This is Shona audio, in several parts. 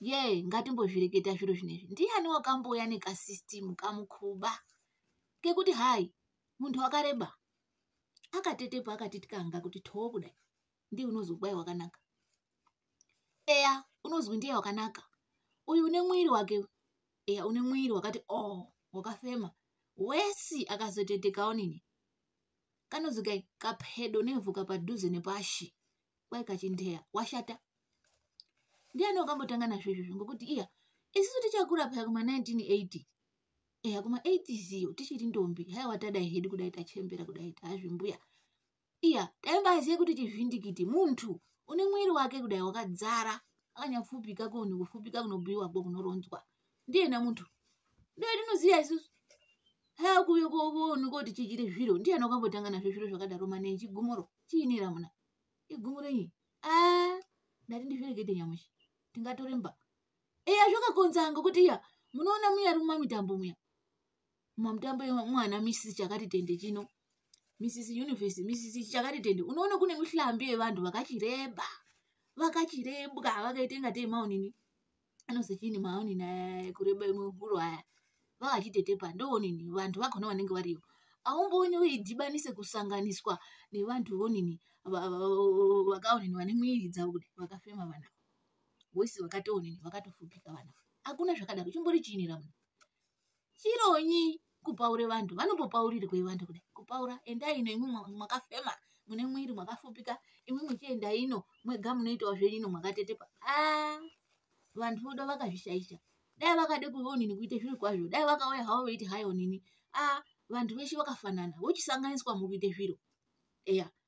yee ngatimbozvireketa zviro zvinezvi ndiani wakambouya nekasystem kamukhuba kekuti hai munhu wakareba akatetepo akatityanga kuti too kudai ndiye unozwi kwai wakanaka eya unozwi ndiye wakanaka uyu une mwiri wake eya une mwiri wakati o oh, wakafema wesi akazotetekawo nini kanozikai kapedo nevhu kapadhuze nepashi kwai kachindeya washata ndiani wakambotanga nazvo izvozvo ngokuti iya isisu tichakura paya kuma 1980 eya kuma 80s iyo tichiri ndombi haiwa tadai hedu kudai tachembera kudai taazvimbuya iya taimbazive kuti chivhindikiti muntu une mwiri wake kudai wakadzara akanyafupika koni kufupika kunobhuyiwako kunoronzwa ndiyena muntu ndotinoziva isusu hakuyokovonikoti chichiri zviro ndiyani wakambotanga nazvo zviro zvakadaro mane chigumuro chiinira muna igumuro iyi a ndati ndizvirekete nyamushi ndingatoremba eya zvakakonza ngokuti iya munoona muya ri mumamitambo muya mumamitambo yemwana misisi chakati tende chino misisi univhesi misisi chakati tende unoona kune mihlambi yevanhu vakachireba vakachirebwa vakaita ingatei maonini anozechini maoni naye kureba imwe huro aya vakachitetepa ndoonini vanhu vakona vanenge variyo aumbooni uidhibanise kusanganiswa nevanhu vonini vakaonini vane mwiri dzavo kudai vakafema vana voisi vakatoonini vakatofupika vana hakuna zvakadaro chimbori chiinira munhu chironyi kupaure vanhu vanombopaurirwei vanhu kudai kupaura endai ino imwi mwakafema mune mwiri mwakafupika imwi muchienda ino mwega munoitawo zvenyu ino mwakatetepa a ah, vanhu voda vakazvishaisha dai vakade kuonini kuite zviri kwazvo dai vakauya havo veiti hayi onini a ah, vanhu veshe vakafanana vochisanganiswa mukuite zviro eya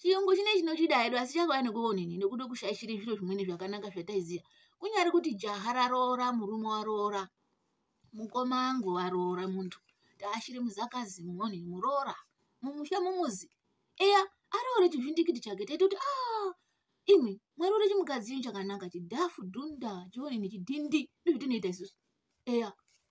chiyungu chine chinochida hedu asi chakauya nekuonini nekuda kushaishira zviro zvimweni zvakanaka zvataiziva kunyari kuti jaha raroora murume waroora mukoma angu varoora muntu taashiri muzakazi muonini muroora mumusha mumuzi eya aroore chizvindikiti chake taita kuti a ah, imwe mwari uri chimukadzi chinhu chakanaka chidhafu dhunda chionini chidhindi ndozvitinoita isusu eya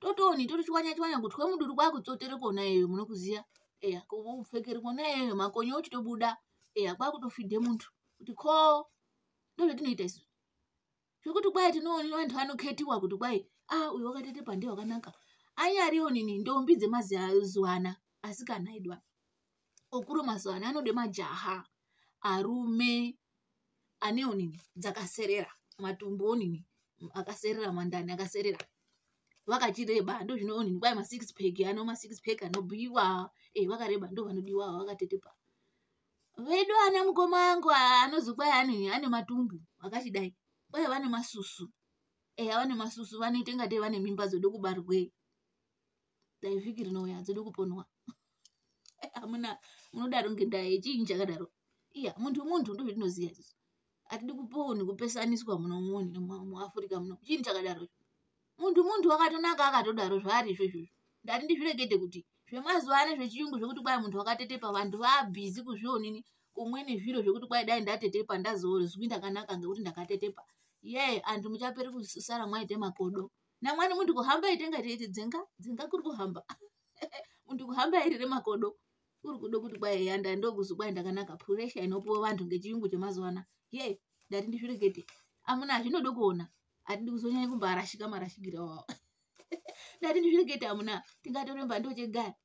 totoni totochwanya chwanya kuti kwemuduri kwakutsotere kona iyoyo munokuziya eya kupfekere kona iyoyo makonyo ochitobuda eya kwakutofidhe muntu kuti ko ndozvatinoita isu zvekuti kwai tinoona vantu vanoketiwa kuti kwai a ah, uyo wakatete pande wakanaka anyariwo nini ndombi dzemazuva ana asikana idwa okuro mazuva ano anode majaha arume anewo nini dzakaserera matumbu onini akaserera mandani akaserera vakachireba ndozvino onini kwai masix pack ano masix pack anobhuiwa e eh, vakareba ndo vanodiwa vakatetepa vedu ana mukoma angu anozi kwai anini ane matumbu akachidai kwai vane masusu eya eh, vane masusu vanoita ngatei vane mimba dzode kubarwei dai vhiki rinouya hadzidi kuponwa amuna munodaro ngendaa yechiinyi chakadaro iya muntu muntu ndozvatinoziva isusu hatidi kuponi kupesaniswa muno muni muafrica muno chiini chakadaro muntu muntu wakatonaka akatodaro zvaari izvo izvozvo ndati ndizvirekete kuti zvemazuva ano zvechiyungu zvekuti kwai muntu wakatetepa vantu vaabhizi kuzvionini kumwe nezviro zvekuti kwai dai ndatetepa ndazozwi ndakanaka ngekuti ndakatetepa yee antu muchapere kusara mwaite makodo namwani munhu kuhamba itenga teiti dzenga dzenga kuri kuhamba munhu kuhamba iri remakodo kuri kudo kuti kwai yanda ndokuzi kwai ndakanaka puresha inopiwa vanhu ngechiyungu chemazuva ana ye ndati ndizvirekete amuna zvinodo kuona hatidi kuzonyanya kumbarashika marashikira wawo ndati ndizvirekete amuna tingatoremba ndochegaya